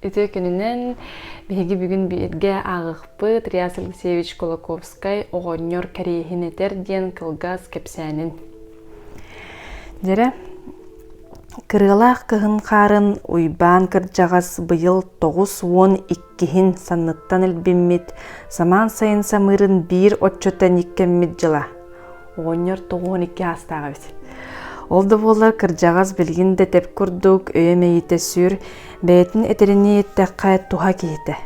Үтүө күнүнэн! Биһиги бүгүн бииргэ ааҕыхпыт Риас Алексеевич Кулаковскай «Оҕонньор кэриэһин этэр» диэн кылгас кэпсээнин. Дьэрэ, кырыалаах кыһын хаарын Уйбаан кырдьаҕас быйыл тоҕус уон иккиһин санныттан илбиммит самаан сайын самыырын биир оччоттон иккэммит дьыла – Оҕонньор тоҕуон икки аастаах эбит. Ол да буоллар кырдьаҕас билгин да тэп курдук, өйө мэйитэ сүр, бэйэтин этэринии эттэххэ туһа киһитэ.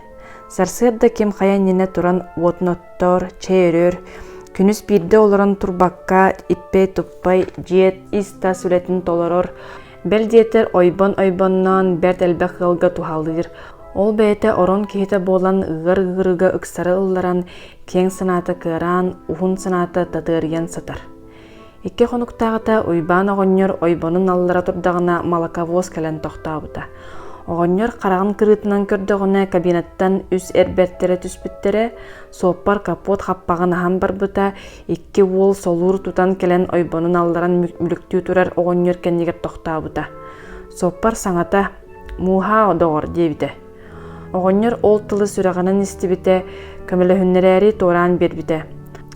Сарсыарда ким хайа иннинэ туран уотун оттоор, чэй өрөр, күнүс биирдэ олорон турбакка, иппэй-туппай, дьиэт, ис-тас үлэтин толорор, Бэл диэтэ ойбон-ойбонноон бэрт элбэх ыалга туһалыыр. Ол бэйэтэ орон киһитэ буолан ыар ыырыга ыксары ылларан, киэҥ санаата кыараан, уһун санаата татыарыйан сытар. Икки хонуктааҕыта Уйбаан оҕонньор ойбонун аллара турдаҕына молоковоз кэлэн тохтообута. Оҕонньор хараҕын кырыытынан көрдөҕүнэ кабинаттан үс эр бэртэрэ түспүттэрэ, суоппар капот хаппаҕын аһан барбыта, Икки уол солуур тутан кэлэн ойбонун алларан мүлүктүү турар оҕонньор кэннигэр тохтообута. Соппар саҥата «Мууһаа, доҕор» диэбитэ. Оҕонньор ол тылы сүрэҕинэн истибитэ, көмөлөһүннэрээри туораан биэрбитэ.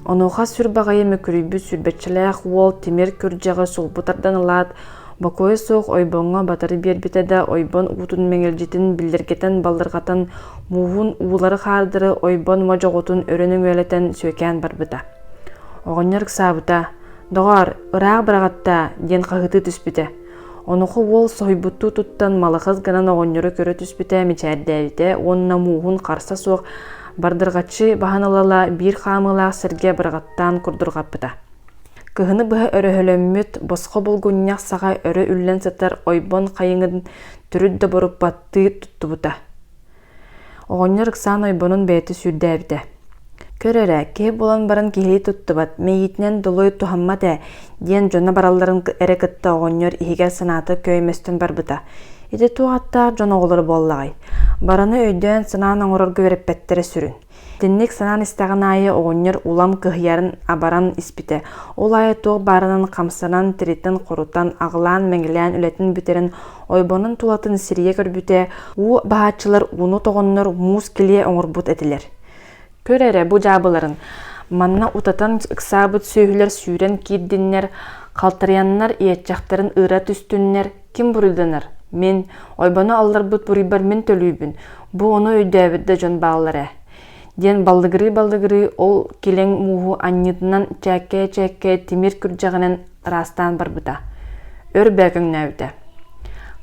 Онуоха сүр баҕайы мөкүрүйбүт сүүрбэччэлээх уол тимир күрдьэҕи сулбу тардан ылаат, Бокуойа суох ойбоҥҥо батары биэрбитэ да, ойбон уутун мэҥирдьитин биллэргэтэн-баллырҕатан, мууһун уулары-хаардары ойбон модьоҕотун өрө нөҥүөлэтэн сүөкээн барбыта. Оҕонньор ыксаабыта: «Доҕоор, ыраах быраҕаттаа!» диэн хаһытыы түспүтэ. Онуоха уол соһуйбуттуу туттан малахыс гынан оҕонньору көрө түспүтэ, мичээрдээбитэ уонна мууһун харса суох бардырҕаччы баһан ала-ала биир хаамыылаах сиргэ быраҕаттаан курдурҕаппыта. Кыһыны быһа өрөһөлөммүт босхо булгунньах саҕа өрө үллэн сытар ойбон хайыҥын төрүт да боруппаттыы туттубута. Оҕонньор ыксаан ойбонун бэйэтэ сүүрдээбитэ. «Көр эрэ, киһи булан баран киһилии туттубат, мэйиитинэн долой туһаммат ээ» диэн дьоно баралларын эрэ кытта оҕонньор иһигэр санаата күөймэстэн барбыта. Ити туох аттаах дьон оҕолоро буоллаҕай? Бараны өйдөөн, санаан оҥорорго үөрэппэттэрэ сүрүн. Итинник санаан истэҕин аайы оҕонньор улам кыһыйарын абаран испитэ. Ол аайы туох баарынан хамсанан, тиритэн хорутан, аҕылаан-мэҥилээн үлэтин бүтэрэн, ойбонун тулатын сирийэ көрбүтэ, уу баһааччылар ууну тоҕоннор муус килиэ оҥорбут этилэр. Көр эрэ бу дьаабыларын, манна утатан ыксаабыт сүөһүлэр сүүрэн киирдиннэр, халтарыйаннар иэччэхтэрин ыыра түстүннэр, Ким буруйданар? Мин, ойбону алларбыт буруйбар мин төлүүбүн, бу ону өйдөөбүт да дьон бааллар ээ. диэн баллыгырыы-баллыгырыы ол килэҥ мууһу анньыытынан чээккээ-чээккээ тимир күрдьэҕинэн ыраастаан барбыта. Өр бөөкөҥнөөбүтэ.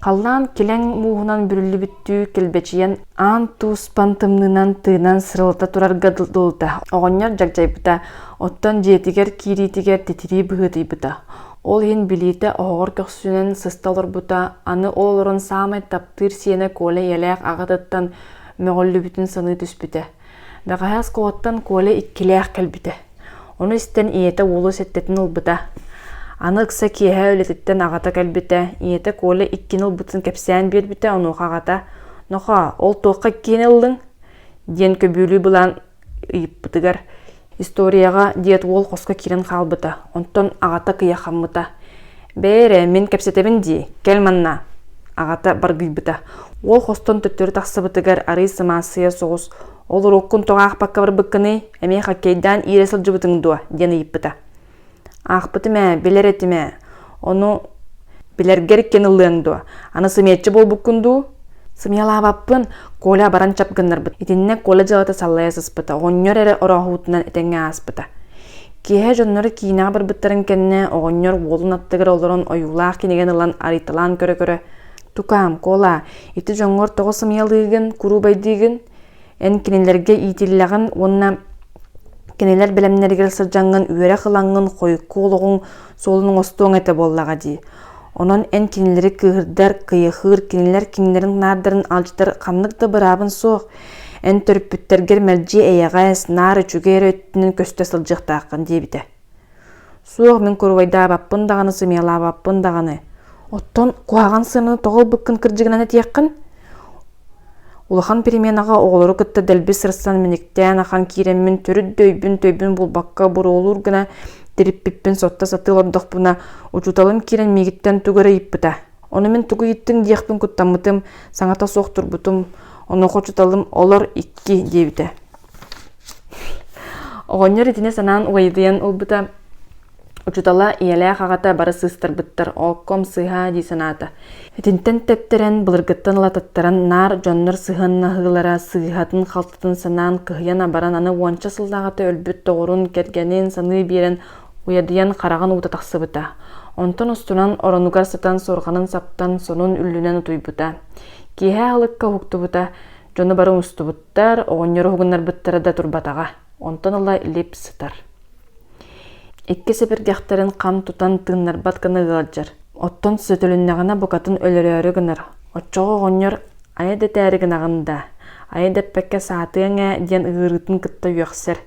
Халлаан килэҥ мууһунан бүрүллүбүттүү килбэчийэн аан туспан тымныынан тыынан сырылта турарга дылыта. Оҕонньор дьагдьайбыта, оттон дьиэтигэр киириитигэр титирии быһыытыйбыта. Ол иһин билиитэ оһоҕор көхсүнэн сыста олорбута, аны ол олорон саамай таптыыр сиэнэ Коля ийэлээх аҕатыттан мөҕүллүбүтүн саныы түспүтэ. Бэҕэһээ оскуолаттан Коля иккилээх кэлбитэ. Ону истэн ийэтэ уолу сэттэтин ылбыта. Аны ыкса киэһэ үлэтиттэн аҕата кэлбитэ. Ийэтэ Коля иккини ылбытын кэпсээн биэрбитэ, онуоха аҕата «Нохоо, ол туохха иккиэни ыллыҥ?» диэн көбүлүү былаан ыйыппытыгар историяҕа диэт уол хоско киирэн хаалбыта онтон аҕата кыйахаммыта бээ эрэ мин кэпсэтэбин дии кэл манна аҕата баргыйбыта уол хостон төттөрү тахсыбытыгар арыый сымаассыйа соҕус ол уруоккун тоҕо аахпакка барбыккыный эмиэ хоккейдаан иирэ сылдьыбытыҥ дуо диэн ыйыппыта Аахпытым ээ, билэр этим ээ. Ону билэргэр иккиэн ыллыаҥ дуо? Аны сымыйаччы буолбуккун дуу? Сымыйалаабаппын, Коля баран чап гыннарбыт. Итиннэ Коля дьыалата саллайа сыспыта, оҕонньор эрэ орооһуутунан этэҥҥэ ааспыта. Киэһэ дьонноро киинэҕэ барбыттарын кэннэ оҕонньор уолун аттыгар олорон ойуулаах кинигэн ылан арыйталаан көрө-көрө «Тукаам, Кола, ити дьоҥҥор тоҕо сымыйалыыгын, куруубайдыыгын?» Эн кинилэргэ иитиллэҕин уонна кинилэр бэлэмнэригэр сылдьаҥҥын үөрэх ылаҥҥын, хойукку олоҕуҥ суолун оҥостуоҥ этэ буоллаҕа дии. Онон эн кинилэри кыыһырдар, кыйахыыр, кинилэр кинилэрин наардарын алдьатар ханнык да быраабын суох. Эн төрүппүттэргэр мэлдьи эйэҕэс, наар үчүгэй эрэ өттүнэн көстө сылдьыахтааххын диэбитэ. Суох, мин куруубайдаабаппын даҕаны, сымыйалаабаппын даҕаны. Оттон куһаҕан сыананы тоҕо ылбыккын кырдьыгынан этиэххин? Улахан переменаҕа оҕолору кытта дэлби сырсан мэниктээн ахан киирэммин төрүт да өйбүн-төйбүн булбакка буруолуур гына тириппиппин сотто сатыы олордохпуна учууталым киирэн миигиттэн тугу эрэ ыйыппыта. Ону мин тугу ыйыттыҥ диэхпин куттаммытым, саҥата суох турбутум. Онуоха учууталым «Олор икки» диэбитэ. Оҕонньор итини санаан угайытыйан ылбыта. Учутала ийэлээх аҕата бара сыыстарбыттар окком сыһаа дии санаата. Итинтэн тэптэрэн, былыргыттан лататтаран наар дьоннор сыһыаннаһыылара сыыһатын-халтытын санаан кыһыйан абаран аны уонча сыллааҕыта өлбүт доҕорун, кэргэнин саныы биэрэн уйадыйан хараҕын уута тахсыбыта. Онтон устунан оронугар сытан суорҕанын саптан сонун үллүнэн утуйбута. Киэһэ аһылыкка уһуктубута, дьону бары умустубут. Оҕуруоттар, оҕонньор уһугуннарбыттара да турбатаҕа, онтон ыла лип сытар. Икки сэпэргэхтэрин хам тутан тыыннарбат гына ыалдьар, оттон сөтөлүннэҕинэ букатын өлөрөөрү гынар, оччоҕо оҕонньор «Айа да этээри гынаҕын даа, айа да эппэккэ саатыаҥ ээ» диэн ыҥырыытын кытта үөхсэр.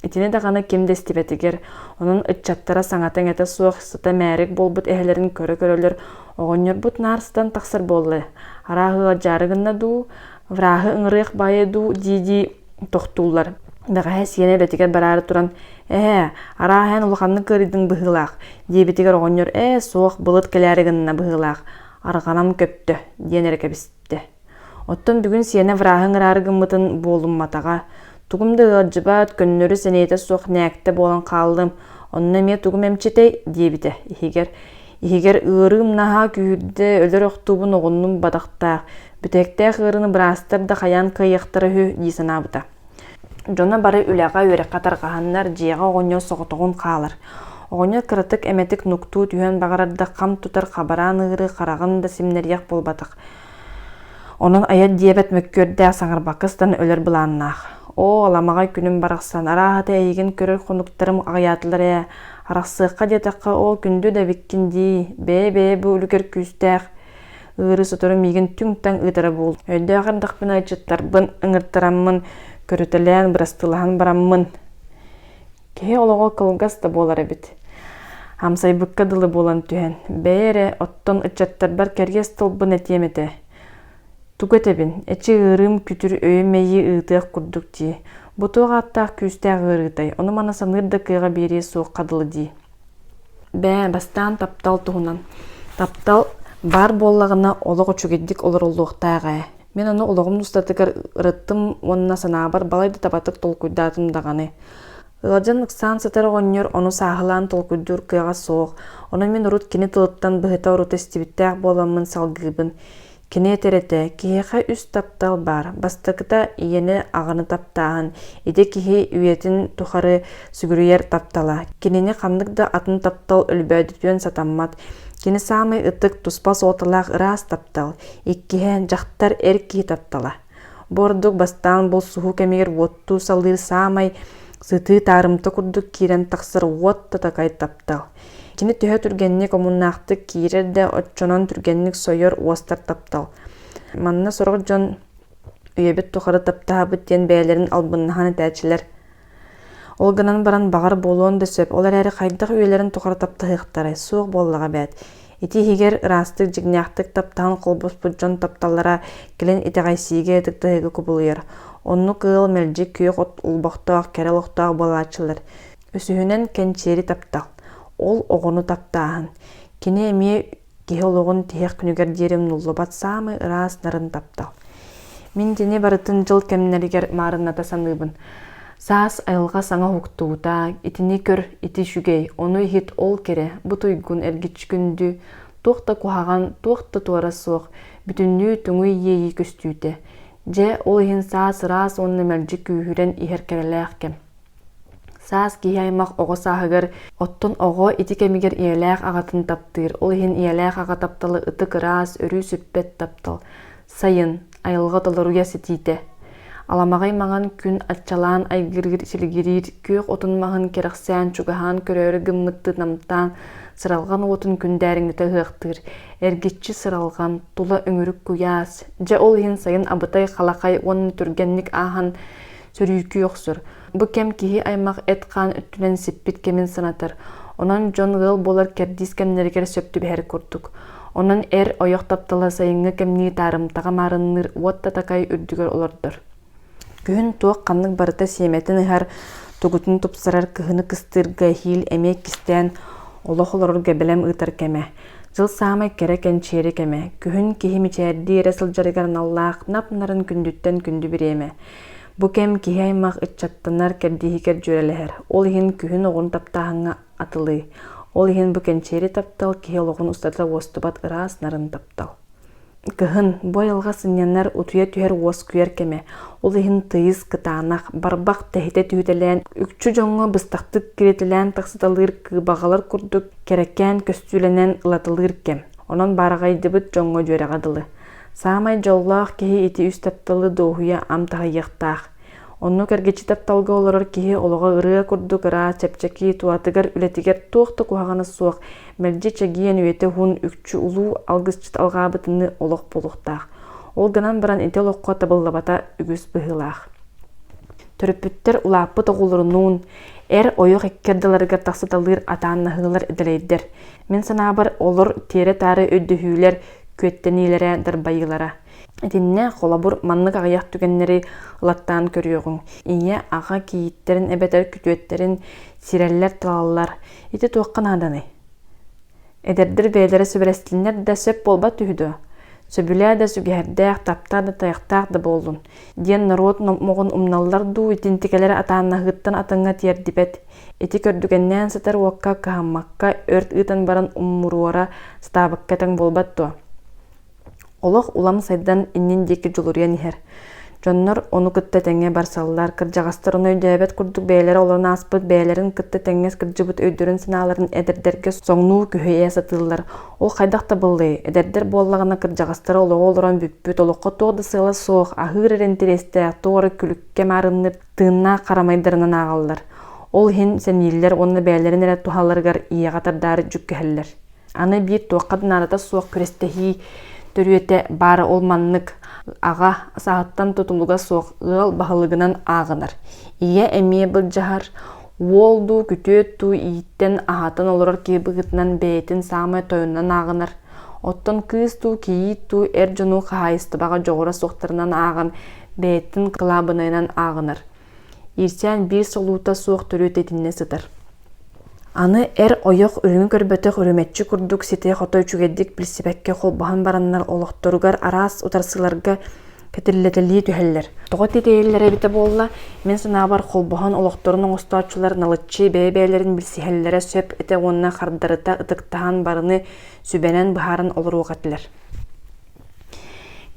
Итини даҕаны ким да истибэтигэр, онон ыччаттара саҥата-иҥэтэ суох сыта мээрик буолбут эһэлэрин көрө-көрөлөр, оҕонньорбут наарстан тахсар буолла, арааһы ыалдьаары гынна дуу, Враһы ыҥырыах баайа дуу дии-дии тохтууллар. Бэҕэһээ сиэнэ үлэтигэр бараары туран «Ээ, арааһа эн улаханнык кыарыйдыҥ быһыылаах» диэбитигэр оҕонньор «Ээ суох, былыт кэлээри гынна быһыылаах, арҕанам көттө» диэн эрэ кэбистэ. Оттон бүгүн сиэнэ враһы ыҥыраары гыммытын буолумматаҕа. Тугум да ыалдьыбат, көннөрү-сэниэтэ суох нээктэ буолан хааллым. Онно эмиэ тугум эмчитэй диэбитэ иһигэр иһигэр ыарыым наһаа күүһүрдэ өлөр охтуубун оҕуннум бадахтаах бүтээктээх ыарыыны быраастар да хайаан кыайыахтара үһү дии санаабыта дьоно бары үлэҕэ үөрэххэ тарҕаһаннар дьиэҕэ оҕонньор соҕотоҕун хаалар оҕонньор кыратык эмэтик нуктуу түһэн баҕарар да хам тутар хабараан ыыры хараҕын да симнэриэх буолбатах Онон айан диэбэт мөккүөрдээх саҥарбакка ыстан өлөр былааннаах. Оо, аламаҕай күнүм барахсан, арааһата эйигин көрөр хонуктарым аҕыйаатылар ээ, арахсыахха диэтэххэ ол күндү да эбиккин дии, бэйэ-бэйэ бу үлүгэр күүстээх ыарыы сотору миигин түҥ-таҥ ыытара буол. Өйдөөх эрдэхпинэ аччыттарбын, ыҥыртараммын, көрүтэлээн, бырастыылаһан бараммын Киһи олоҕо кылгас да буолар эбит. Амсайбыкка дылы буолан түһэн, бэйэ эрэ, оттон ыччаттарбар кэриэс тылбын этиэм этэ. Тугу этэбин, эчи ыарыым күтүр өйү-мэйии ыытыах курдук дии, бу туох ааттаах күүстээх ыарыытай, ону-маны саныыр да кыаҕа биэриэ суохха дылы дии Бээ, бастаан таптал туһунан. Таптал баар буоллаҕына олох үчүгэйдик олороллуохтаах ээ. Мин ону олоҕум устатыгар ырыттым уонна санаабар балай да табатык толкуйдаатым даҕаны. Ыалдьан ыксаан сытар оҕонньор ону сааһылаан толкуйдуур кыаҕа суох. Ону мин урут кини тылыттан быһыта-орута истибиттээх буоламмын салгыыбын. Кини этэрэтэ, киһиэхэ үс таптал баар, бастакыта, ийэни, аҕаны таптааһын. Ити киһи үйэтин тухары сүгүрүйэр таптала. Кинини ханнык да атын таптал өлбөөдүтүөн сатаммат. Кини саамай ытык, туспа суолталаах ыраас таптал. Иккиһэ, дьахтар эр киһи таптала. Бу ордук бастаан булсуһуу кэмигэр уоттуу салыыр саамай сытыы таарымта курдук киирэн тахсар уот татакай таптал. Кини төһө түргэнник омуннаахтык киирэр да, оччонон түргэнник сойор уостар таптал. Манна сорох дьон үйэбит тухары таптаһабыт диэн бэйэлэрин албыннаһан этээччилэр. Ол гынан баран баҕар буолуон да сөп. Ол эрээри хайдах үйэлэрин тухары таптаһыахтарай? Суох буоллаҕа бээт. Ити иһигэр ыраастык, дьиҥнээхтик таптаһан холбоспут дьон тапталлара кэлин итэҕэйсиигэ ытыктаһыыга кубулуйар. Оннук ыал мэлдьи күөх от улбохтоох, кэрэ олохтоох буолааччылар. Үсүһүнэн кэнчээри таптал. Ол оҕону таптааһын. Кини эмиэ киһи олоҕун тиһэх күнүгэр диэри умнуллубат саамай ыраас нарын таптал. Мин итини барытын дьыл кэмнэригэр маарынната саныыбын. Саас айылҕа саҥа уһуктуута, итини көр, ити үчүгэй, ону иһит ол кэрэ, бу туйгун эргиччи күндү, туох да куһаҕан, туох да туора суох, бүтүннүү туҥуй иэйии көстүүтэ. Дьэ, ол иһин саас ыраас уонна мэлдьи күүһүрэн иһэр кэрэлээх кэм. Саас киһи-аймах оҕо сааһыгар, оттон оҕо ити кэмигэр ийэлээх аҕатын таптыыр. Ол иһин ийэлээх аҕа тапталы ытык ыраас, өрүү сүппэт таптал. Сайын, айылҕа толоруйа ситиитэ. Аламаҕай маҥан күн аччалаан айгырыыр, силигириир, күөх отун маһын кэрэхсээн, чугаһаан көрөөрү гыммыттыы намтаан, сыралҕан уотун күндээриҥнитэ ыһыахтыыр. Эргиччи сыралҕан, тула үҥүрүк куйаас. Дьэ ол иһин сайын абытай-халакай уонна түргэнник ааһан, Сөрүүкүү охсор. Бу кэм киһи-аймах эт-хаан өттүнэн сиппит кэмин санатар. Онон дьон ыал буолар кэрдиис кэмнэригэр сөп түбэһэр курдук. Онон эр ойох таптала сайыҥҥы кэмнии таарымтаҕа маарынныыр уот татакай үрдүгэр олордор. Күһүн туох ханнык барыта сиэмэтин ыһар, тугутун тупсарар кыһыны кыстыырга эһиил эмиэ кистээн олох олорорго бэлэм ыытар кэмэ. Дьыл саамай кэрэ кэнчээри кэмэ. Күһүн киһи мичээрдии эрэ сылдьарыгар аналлаах нап-нарын күндүттэн күндү бириэмэ. Бу кэм киһи-аймах ыччаттанар кэрдииһигэр дьүөрэлэһэр. Ол иһин күһүн-оҕун таптааһыҥҥа атылыы. Ол иһин бу кэнчээри таптал киһи олоҕун устата уостубат ыраас нарын таптал. Кыһын, бу айылҕа сынньанар, утуйа түһэр уоскуйар кэмэ. Ол иһин тыйыс, кытаанах, барбах тэһитэ түһүтэлээн, үкчү дьоҥҥо быстахтык киритэлээн тахсыталыыр кыыбаҕалар курдук, кэрэкээн көстүүлэнэн ылатылыыр кэм. Онон баараҕайдыбыт дьоҥҥо дьүөрэҕэ дылы. Саамай дьоллоох киһи ити үс тапталы дуоһуйа ам таһыйыахтаах. Онно кэргиччи тапталга олорор киһи олоҕо ырыа курдук ыраас, чэпчэки, туһатыгар, үлэтигэр туох да куһаҕана суох, мэлдьи чэгиэн, үйэтэ уһун, үкчү улуу алгысчыт алҕаабытыныы олох буолуохтаах. Ол гынан баран ити олоххо табыллабата үгүс быһыылаах. Төрөппүттэр улааппыт оҕолорунуун, эр ойох икки ардыларыгар тахсыталыыр атааннаһыылар дэлэйдэр. Мин санаабар, олор тиэрэ-таары өйдөһүүлэр, күөттэниилэрэ, дарбайыылара. Итиннэ холобур маннык аҕыйах түгэннэри ылаттаан көрүөҕүҥ. Ийэ, аҕа кийииттэрин эбэтэр күтүөттэрин сирэллэр-талаллар. Ити туохха нааданый? Эдэрдэр бэйэлэрэ сүбэлэстиннэр да сөп буолбат үһү дуо? Сөбүлээ да сүгэһэрдээх, таптаа да тайахтаах да буоллун, диэн норуот номоҕун умналлар дуу, итинтикэлэрэ атааннаһыыттан атаҥҥа тиэрдибэт. Ити көрдүгэннээн сытар уокка кыһаммакка өрт ыытан баран уммуруора сатаабыкка этиҥ буолбат дуо? Олох улам сайдан иннин диэки дьулуруйан иһэр. Дьоннор ону кытта тэҥҥэ барсаллар, кырдьаҕастар ону өйдөөбөт курдук бэйэлэрэ олорон ааспыт, бэйэлэрин кытта тэҥҥэ кырдьыбыт өйдөрүн-санааларын эдэрдэргэ соҥнуу күһэйэ сатыыллар. Ол хайдах табыллый? Эдэрдэр буоллаҕына кырдьаҕастара олоҕу олорон бүппүт, олоххо туох да сыала суох, аһыыр эрэ интэриэстээх, туох эрэ күлүккэ маарынныыр тыыннаах харамайдарынан ааҕаллар. Ол иһин сэмииллэр уонна бэйэлэрин эрэ туһаларыгар ийэҕэ тардаары дьүккэһэллэр. Аны биир туохха да наадата суох күрэстэһии төрүөтэ баара ол маннык. Аҕа сааһыттан тутулуга суох ыал баһылыгынан ааҕынар. Ийэ эмиэ былдьаһар, уол дуу, күтүөт дуу ииттэн аһатан олорор киһи быһыытынан бэйэтин саамай тойонунан ааҕынар. Оттон кыыс дуу, кийиит дуу эр дьону хаһаайыстыбаҕа дьоҕура суохтарынан ааҕан, бэйэтин кылаабынайынан ааҕынар. Ирсээн биир солуута суох төрүөт итиннэ сытар. Аны эр ойох үрүҥү көрбөтөх үрүмэччи курдук ситэ-хото үчүгэйдик билсибэккэ холбоһон бараннар олохторугар араас утарсыыларга кэтиллэтэлии түһэллэр. Тоҕо тиэтэйэллэрэ эбитэ буолла, мин санаабар холбоһон олохторун оҥостооччулар налыччы бэйэ-бэйэлэрин билсиһэллэрэ сөп этэ уонна хардарыта ытыктаһан барыны сүбэнэн быһааран олоруох этилэр.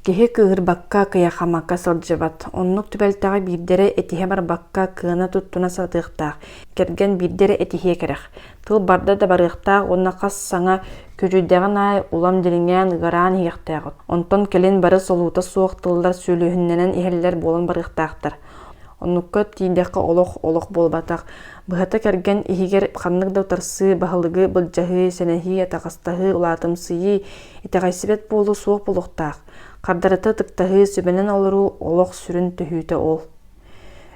Киһи кыыһырбакка, кыйахамакка сылдьыбат. Оннук түбэлтэҕэ биирдэрэ этиһэ барбакка, кыана туттуна сатыахтаах. Кэргэн биирдэрэ этиһиэ кэрэх. тыл барда да барыахтаах уонна хас саҥа күрүйдэҕин аайы улам дириҥээн ыгараан иһиэхтээҕин, онтон кэлин бары солуута суох тыллар сүөлүһүннэнэн иһэллэр буолан барыахтаахтар. Оннукка тиийдэххэ олох олох буолбатах. Быһата кэргэн иһигэр ханнык да утарсыы, баһылыгы былдьаһыы, сэнэһии, атаҕастаһыы, улаатымсыйыы, итэҕэйсибэт буолуу суох буолуохтаах. Хардарыта ытыктаһыы, сүбэнэн олоруу олох сүрүн түһүүтэ ол.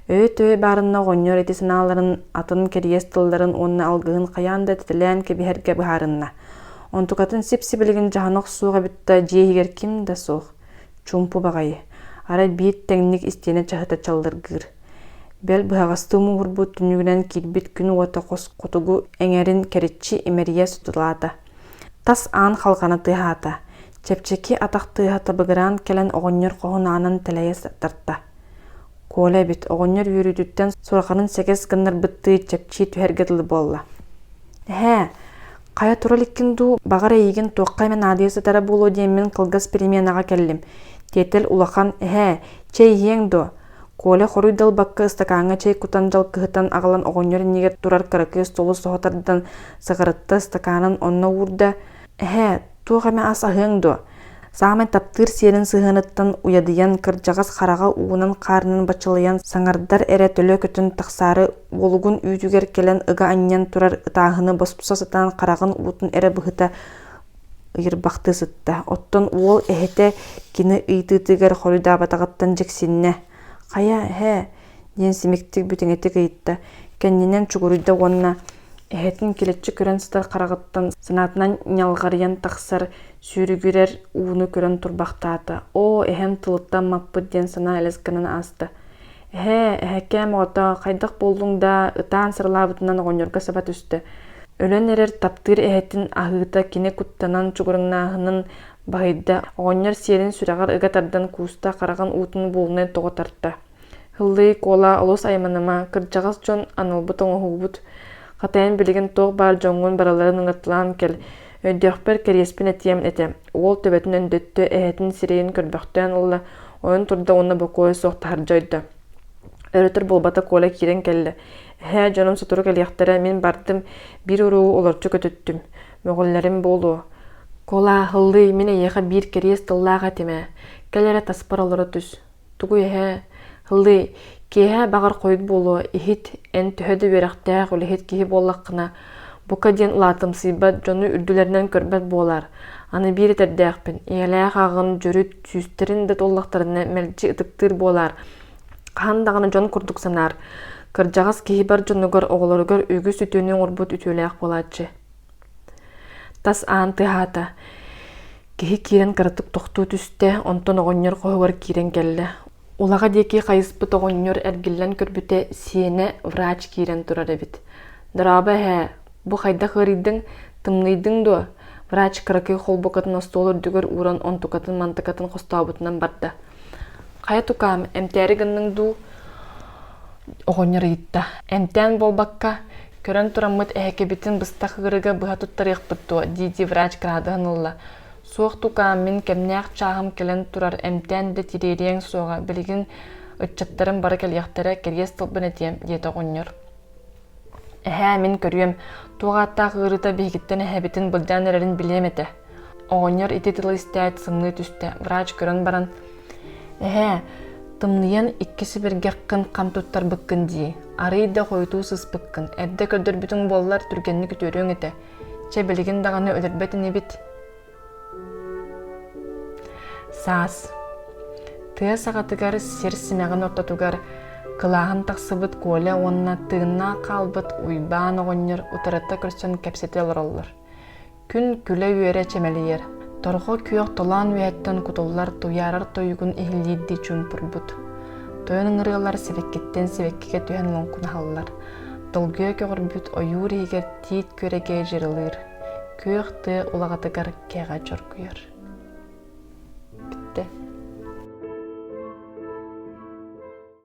Өй-төй баарына оҕонньор ити санааларын атын кэрийэс тылларын уонна алгыһын хайаан да тэтэлээн кэбиһэргэ быһаарынна. Онтукатын сип-сибилигин дьаһанах суох эбит да дьиэ иһигэр ким да суох. Чуумпу баҕайы. Арай биир тэҥник истиэнэ чаһыта чаллыргыыр. Бэл быһаҕастыы муҥурбут түннүгүнэн киирбит күн уота хос хотугу эҥэрин кэриччи имэрийэ сутулаата. Тас аан халҕана тыаһаата. Чэпчэки атах тыаһа табыгыраан кэлэн оҕонньор хоһун аанын тэлэйэ тарта. Коля эбит оҕонньор үөрүүтүттэн сурахарын сэгэс гыннарбыттыы чэпчии түһэргэ дылы буолла. «Эһээ, хайа тура иликкин дуу, баҕар эйигин туохха эмэ наадыйа сытара буолуо диэммин кылгас переменаҕа кэллим. Тиэтэл улахан, эһээ, чэй иһиэҥ дуо?» Коля хоруй далбакка ыстакааҥҥа чэй кутан дьалкыһытан аҕалан оҕонньор иннигэр турар кыракыас столу соһо тардан сыҕарытта ыстакаанын онно уурда, «Эһээ, туох эмэ ас аһыаҥ дуо саамай таптыыр сиэрин сыһыаныттан уйадыйан кырдьаҕас хараҕа уунан хаарынан баччалыйан саҥардар эрэ төлө көтөн тахсаары уолугун үүтүгэр кэлэн ыга анньан турар ытааһыны босхо сатаан хараҕын уутун эрэ быһыта ыйырбахтыы сытта оттон уол эһэтэ кини ыйытыытыгар хоруйдаабатаҕыттан дьиксиннэ хайа эһээ диэн симиктик бүтэҥитик ыйытта, кэннинэн чугуруйда уонна эһэтин килэччи көрөн сытар хараҕыттан санаатынан ньалҕарыйан тахсар сүүрүгүрэр ууну көрөн турбахтаата. Оо, эһэм тылыттан маппыт диэн санаа элэс гынан ааста. Эһээ, эһэкээм оҕото, хайдах буоллуҥ да ытаан сырылаабытынан оҕонньорго саба түстэ. Өлөн эрэр таптыыр эһэтин аһыыта кини куттанан чугуруҥнааһынын баһыйда. Оҕонньор сиэрин сүрэҕэр ыга тардан кууста хараҕын уутун буолунай тоҕо тарта. Һыллыы, Куола олус айманыма, кырдьаҕас дьон, аналбыт оҥоһугубут, хатайан билигин туох баар дьоҥҥун барыларын ыҥыртылаан кэл, өйдüөхпэр кэриэспин этиэм этэ, уол төбөтүн өндөттө, эһэтин сирэйин көрбөхтөөн ылла, ойон турда уонна бокуойа суох таһырдьа ойдо. Өлөтөр буолбата Куола киирэн кэллэ. «Эһээ, дьонум сотору кэлиэхтэрэ, мин бардым, биир уруу олорчу көтүттүм. Мөҕүллэрим буолуо». «Куола, Һыллыы, мин эйиэхэ биир кэриэс тыллаах этим ээ, кэл эрэ таспар олоро түс» тугуй эһээ ыллыы киэһэ баҕар хойут буолуо иһит эн төһө да үөрэхтээх үлэһит киһи буоллаххына бука диэн улаатымсыйбат дьону үрдүлэринэн көрбөт буолаар аны биир этэрдээхпин ийэлээх ааҕын дьөрүт сүүстэрин да туоллахтарына мэлдьи ытыктыыр буолаар хаһан даҕаны дьон курдук санаар кырдьаҕас киһи бар дьонугар оҕолоругар үгүс үтүөнү оҥорбут үтүөлээх буолааччы Тас аан тыаһаата. Киһи киирэн кыратык тохтуу түстэ, онтон оҕонньор хоһугар киирэн кэллэ. Улаҕа диэки хайыспыт оҕонньор эргиллэн көрбүтэ, сиэнэ, врач киирэн турар эбит. «Дорообо эһээ, бу хайдах ыарыйдыҥ? Тымныйдыҥ дуо?» Врач кыракый холбукатын остуол үрдүгэр ууран онтукатын-мантыкатын хостообутунан барда. «Хайа тукаам, эмтээри гынныҥ дуу?» оҕонньор ыйытта. Эмтээн буолбакка, көрөн тураммыт эһэкэбитин быстах ыырыга быһа туттарыахпыт дуо, дии-дии врач кыраадыһан ылла. Суох тукаам, мин кэмнээх чааһым кэлэн турар, эмтээн да тириэриэҥ суоҕа, билигин ыччаттарым бары кэлиэхтэрэ, кэлиэс тылбын этиэм, диэтэ оҕонньор. Эһээ, мин көрүөм, туох ааттаах ыарыыта биһигиттэн эһэбитин былдьаан эрэрин билиэм этэ. Оҕонньор ити тылы истээт сымыы түстэ. Врач көрөн баран «Эһээ, тымныйан икки сибиргэххин хам туттарбыккын дии. Арыый да хойутуу сыспыккын. Эрдэ көрдөрбүтүҥ буоллар түргэнник үтүөрүөҥ этэ. Чэ билигин даҕаны өлөрбөт инибит». Саас тыа саҕатыгар сир симэҕин ортотугар кылааһын тахсыбыт Коля уонна тыыннаах хаалбыт Уйбаан оҕонньор утарыта көрсөн кэпсэтэ олороллор. Күн күлэ-үөрэ чэмэлийэр. Торҕо күөх толоон үөһэттэн кутуллар туйаарар тойугун иһиллиирдии чуумпурбут. Тойон ыҥырыалар сибэккиттэн сибэккигэ түһэн лоҥкунаһаллар. Долгуйа көҕөрбүт ойуур иһигэр тиит күөрэгэй дьырылыыр. Күөх тыа улаҕатыгар кэҕэ чоргуйар. Бүттэ.